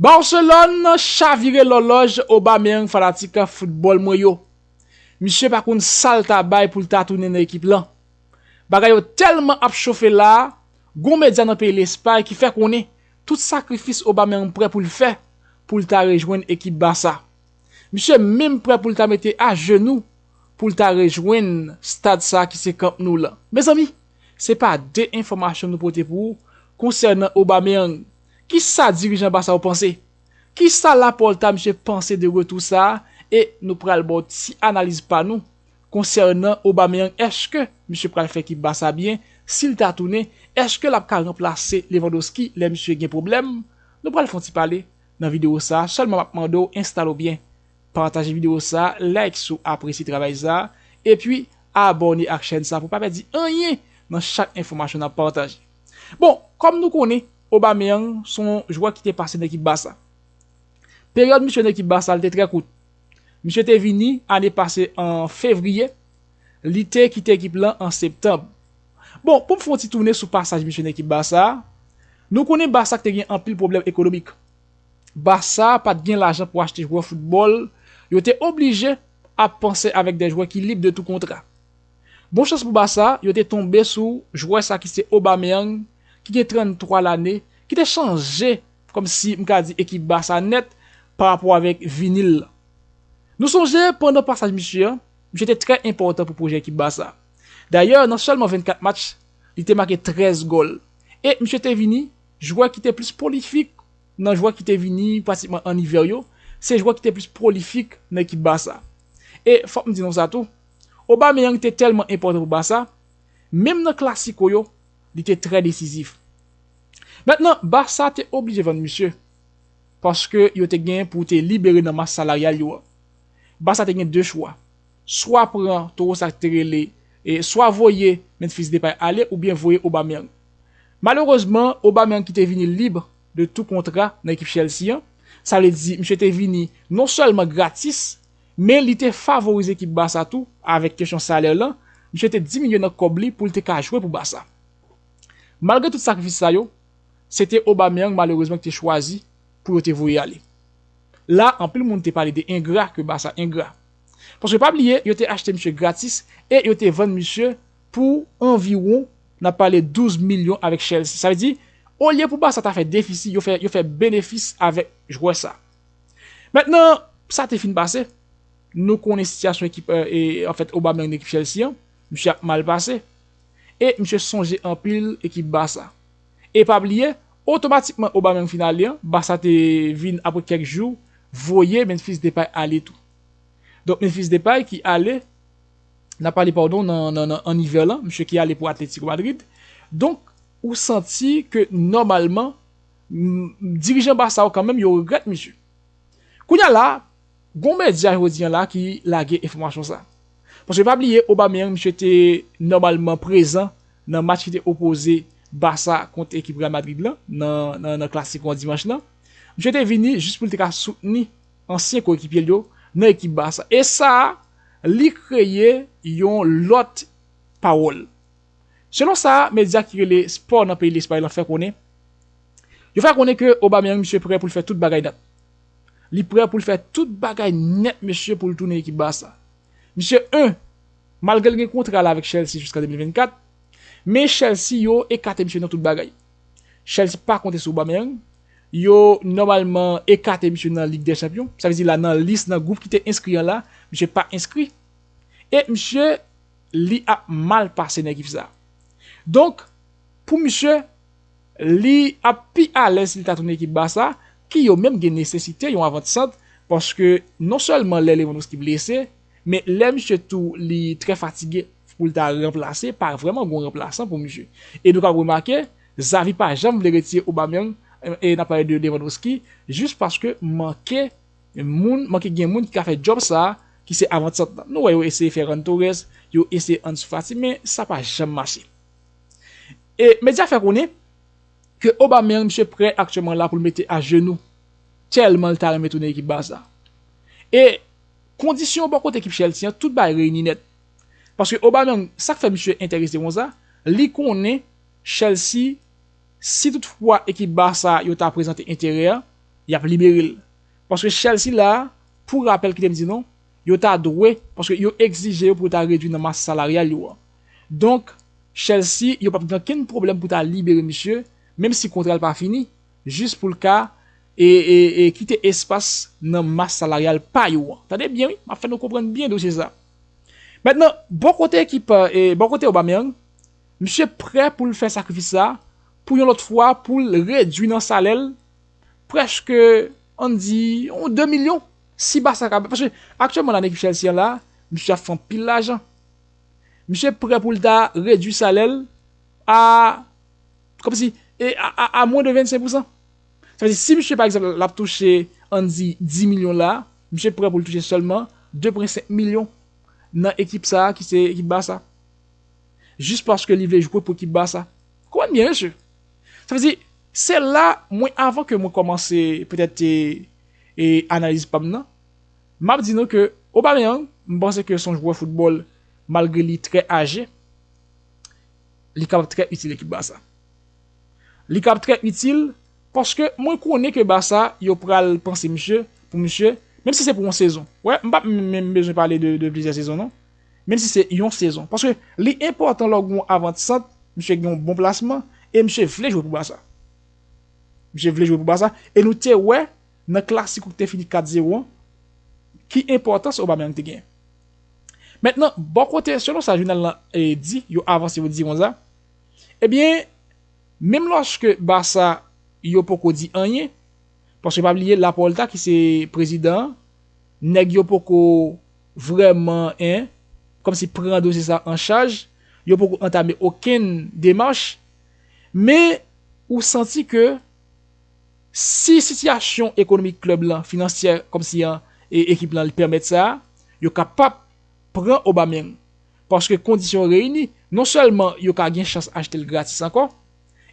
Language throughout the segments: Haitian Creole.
Barcelone chavire lòlòj Aubameyang fanatik foutbòl mwen yo. Misye pa konn sal ta bay poul ta tounen nan ekip lan. Bagay yo tèlman ap chofe la, gon medya nan peyi Lespay ki fè konnen tout sakrifis Aubameyang prè poul fè poul ta rejwenn ekip Barça. Misye menm prè poul ta mete ajenou poul ta rejwenn stad sa ki se Camp Nou lan. Mezanmi, se pa de enfòmasyon nou pote pou ou konsènan Aubameyang. Kisa dirijan Barça yo panse? Kisa Laporta misye panse de retou sa e nou pral baw ti analiz pa nou konsènan Aubameyang eske misye pral fè ekip Barça byen sil ta tounen eske lap ka ranplase Lewandowski lè misye gen pwoblèm nou pral fon ti pale nan video sa sèlman map mandew enstale w byen pataje video sa like si w apresye travay sa epi abòne ak chèn sa pou pa pèdi anyen nan chak enfòmasyon nap pataje. Bon, kòm nou konnen, Aubameyang se yon jwè ki te pase nan ekip Barça. Peryòd misye nan ekip Barça li te trè kout. Misye te vini ane pase an fevriye, li te kite ekip lan an septanb. Bon, pou m fè yon ti tounen sou pasaj misye nan ekip Barça a, nou konnen Barça te gen anpil pwoblèm ekonomik. Barça pa t gen lajan pou achte jwè foutbòl, yo te oblije ap panse avèk de jwè ki lib de tou kontra. Bon chans pou Barça, yo te tonbe sou jwè sa ki se Aubameyang ki gen 33 lane ki te chanje kòm si m ka di ekip Barça nèt pa rapò avèk vini l lan. Nou sonje pandan pasaj misye an, misye te trè enpòtan pou pwojè ekip Barça. Dayè nan sèlman 24 match, li te make 13 gòl e misye te vini jwè ki te plis pwolifik nan jwè ki te vini pratikman an ivè yo, se jwè ki te plis pwolifik nan ekip Barça. E fòk m di nou sa tou, Aubameyang te tèlman enpòtan pou Barça, menm nan klasiko yo, li te trè desizif. Mentnan, Barça te oblije vann misye, paske yo te gen pou te libere nan mas salaryal yo an. Barça te gen 2 chwa, swa pran towo sa te rele, swa voye Memphis Depay ale oubyen voye Aubameyang. Malerezman, Aubameyang ki te vini lib de tou kontra nan ekip Chelsea an, sa vle di misye te vini non sèlman gratis, Men li te favorize ekip Barça tou avèk kesyon salè lan, misye te diminye nan kòb li pou l te ka jwe pou Barça. Malgre tout sakrifis sa yo, se te Aubameyang malerezman ki te chwazi pou yo te voye ale. La anpil moun te pale de engra ke Barça engra. Paske pa bliye yo te achte misye gratis e yo te vann misye pou anviwon n ap pale 12 milyon avèk Chelsea. Sa vle di olye pou Barça ta fè defisi yo fè yo fè benefis avèk jwè sa. Mentnan, sa te fin pase. Nou konnen sitiyasyon ekip anfèt Obameyang nan ekip Chelsea an. Misye ap mal pase. E misye sonje anpil ekip Barça. E pa bliye, otomatikman Obameyang fin ale an, Barça te vin apre kèk jou voye Memphis Depay ale tou. Donk Memphis Depay ki ale, n ap pale padon nan an ivè lan, misye ki ale pou Atletico Madrid. Donk ou santi ke nòmalman Humm dirijan Barça yo kanmenm yo regrèt misye. Kounya la gon medya jodi an la ki lage enfòmasyon sa. Paske pa bliye Aubameyang misye te nòmalman prezan nan match ki te opoze Barça kont ekip Real Madrid lan nan klasiko an dimanch lan. Misye te vini jis pou l te ka soutni ansyen koyekipye l yo nan ekip Barça. E sa li kreye yon lòt pawòl. Selon sa medya ki rele Sport nan peyi Lespay lan fè konnen, yo fè konnen ke Aubameyang misye prè pou l fè tout bagay nèt. Li prè pou l fè tout bagay nèt mesye pou l tounen ekip Barça. Misye 1 Malgre l gen kontra la avèk Chelsea jiska 2024, men Chelsea yo ekate misye nan tout bagay. Chelsea pa konte sou Aubameyang, yo nòmalman ekate misye nan Lig dè Chanpyon, sa vle di la nan lis nan gwoup ki te enskri an la, misye pa enskri. E misye. Li ap mal pase nèg if sa. Donk pou misye li ap pi alèz si li ta tounen ekip Barça ki yo menm gen nesesite yon avant sant paske non sèlman lè Lewandowski blese men lè misye tou li trè fatige pou l ta ranplase pa vrèman gon ranplasan pou misye. E nou kab remake Xavi pa janm vle retire Aubameyang e n ap pale de Lewandowski jis paske manke Men moun manke gen moun ki ka fè djòb sa ki se avantsant lan. Nou wè yo eseye Ferran Torres, yo eseye Ansu Fati men sa pa janm mache. E medya fè konnen ke Aubameyang misye prè aktyèman la pou l mete ajenou tèlman l ta renmen tounen ekip Barça. E kondisyon bò kote ekip Chelsea an tout bagay reyini nèt. Paske Aubameyang sa k fè misye enterese konsa, li konnen Chelsea si tout fwa ekip Barça yo ta prezante enterè, y ap libere l. Paske chèl sila a, pou rapèl kite m di nou, yo ta dwe, paske yo egzije yo pou yo ta redwi nan mas salaryal yo an. Donk, chèl si yo p ap gen okenn pwoblèm pou ta libere misye, menm si kontra l pa fini, jis pou l ka kite espas nan mas salaryal pa yo an. Tande byen wi, m ap fè nou konprann byen dosye sa. Mentnan, bò kote ekip, bò kote Aubameyang, misye prè pou l fè sakrifis sa pou yon lòt fwa pou l redwi nan salè l prèske an di yon 2 milyon si ba sa ka bè. Paske aktyèlman la nèg Chelsea an la, misye ap fè anpil lajan. Misye prè pou l ta redui salè l a kòm si e a mwen de 25 pousan. Sa vle di si misye pa egzanp l ap touche an di 10 milyon la, misye prè pou l touche sèlman 2.5 milyon nan ekip sa ki se ekip ba sa. Jis paske li vle jwe pou ekip ba sa. Konprann byen mesye. Sa vle di se la mwen avan ke mwen kòmanse petèt e analiz pa m nan, m ap di nou ke Aubameyang m panse ke se yon jwè foutbòl malgre li trè aje, li kapab trè itil ekip Barça. Li kapab trè itil paske mwen konnen ke Barça yo pral panse misye pou misye menm si se pou yon sezon. Wè m pa menm bezwen pale de plizyè sezon non. Menm si se yon sezon. Paske li enpòtan lè w gen yon avant sant, misye gen yon bon plasman e misye vle jwe pou Barça. Misye vle jwe pou Barça e nou te wè nan Clasico ki te fini 4 zero an ki enpòtans Aubameyang te genyen. Mentnan, bò kote, selon sa jounal lan di, yo avanse yo di konsa, ebyen, menm lòske Barça yo poko di anyen, paske pa bliye Laporta ki se prezidan an, nèg yo poko Vrèman hein! Kòmsi pran dosye sa an chaj, yo poko antame okenn demach, men ou santi ke si sitiyasyon ekonomik klèb lan, finansyè kòmsi an e ekip lan li pèmèt sa, yo kapab pran Aubameyang paske kondisyon yo reyini, non sèlman yo ka gen chans achte l gratis ankò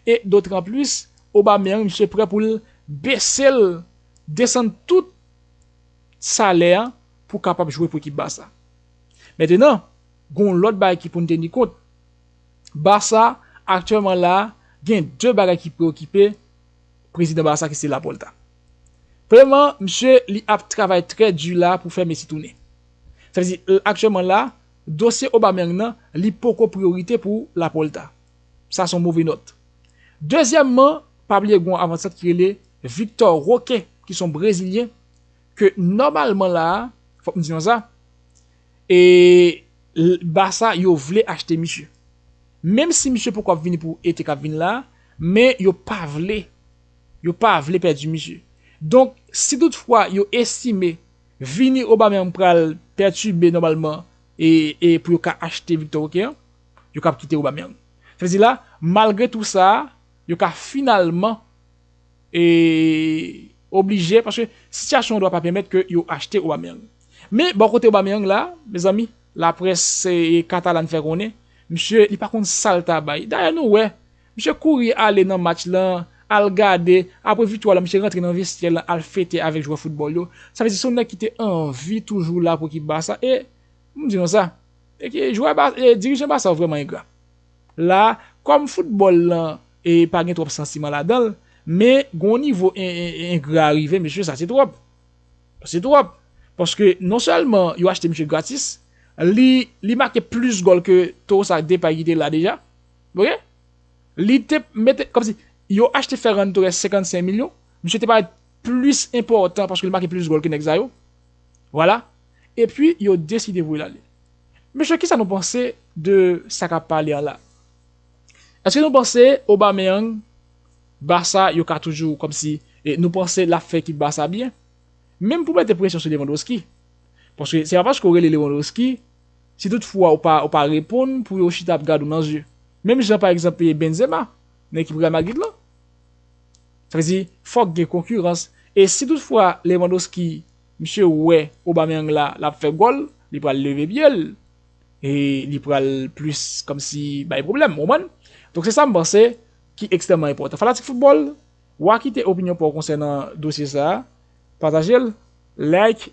e dotranplis Aubameyang misye prè pou l bese l desann tout. salè a pou kapab jwe pou ekip Barça. Mentenan, gen yon lòt bagay ki pou n teni kont. Barça, aktyèlman la a, gen 2 bagay ki preokipe prezidan Barça ki se Laporta. Premyèman, misye li ap travay trè di la a pou fè Messi tounen. Sa vle di, aktyèlman la a, dosye Aubameyang nan, li poko priyorite pou Laporta. Sa se yon move nòt. Dezyèmman, pa bliye gen yon avansan ki rele Victor Roque ki se yon brezilyen, ke nòmalman la a, fòk m di nou sa, e Barça yo vle achte misye. Menm si misye poko ap vini pou ete k ap vini la a, men yo pa vle, yo pa vle pèdi misye. Donk, si tout fwa yo estime vini Aubameyang pral pètibe nòmalman e pou yo ka achte Victor Roque an, yo ka ap kite Aubameyang. Sa vle di la, malgre tou sa a, yo ka finalman e oblije paske sitiyasyon an dwa pa pèmèt ke yo achte Aubameyang. Men bò kote Aubameyang la, mezanmi, laprès katalan fè konnen, misye li pa konn sa l ta bay. Dayè nou wè, misye kouri ale nan match lan, al gade, apre viktwa lan misye rantre nan vestyè lan al fete avèk jwè foutbòl yo. Sa vle di se yon nèg ki te anvi toujou la pou ekip Barça e, pou m di nou sa, dirijan Barça yo vrèman engra. La, kòm foutbòl lan pa gen twòp santiman ladan l, men gen yon nivo engra rive mesye sa se twòp. Se twòp. Paske non sèlman yo achte misye gratis, li li make plis gòl ke Tosa Depay ki te la deja. Ok. Li te mete kòmsi yo achte Ferran Torres 55 milyon, misye te parèt plis enpòtan paske li make plis gòl ke nèg sa yo. Vwala. epi yo deside voye l ale. Mesye kisa nou panse de sa kap pale an la? Eske nou panse Aubameyang Barça yo ka toujou kòmsi nou panse lap fè ekip Barça byen? Menm pou mete presyon sou Lewandowski. Paske se pa paske ou rele Lewandowski si tout fwa ou pa ou pa reponn pou yo chita ap gad ou nan zye. Menm jan pa egzanp Benzema nan ekip Real Madrid lan. Sa vle di fòk gen konkirans e si tout fwa Lewandowski Misye wè Aubameyang la lap fè gòl, li pral leve pye l, e li pral plis kòmsi bay pwoblèm, ou konprann? Donk se sa m panse ki ekstrèmman enpòtan. Fanatik foutbòl, wa kite opinyon pa w konsènan dosye sa, pataje l, like,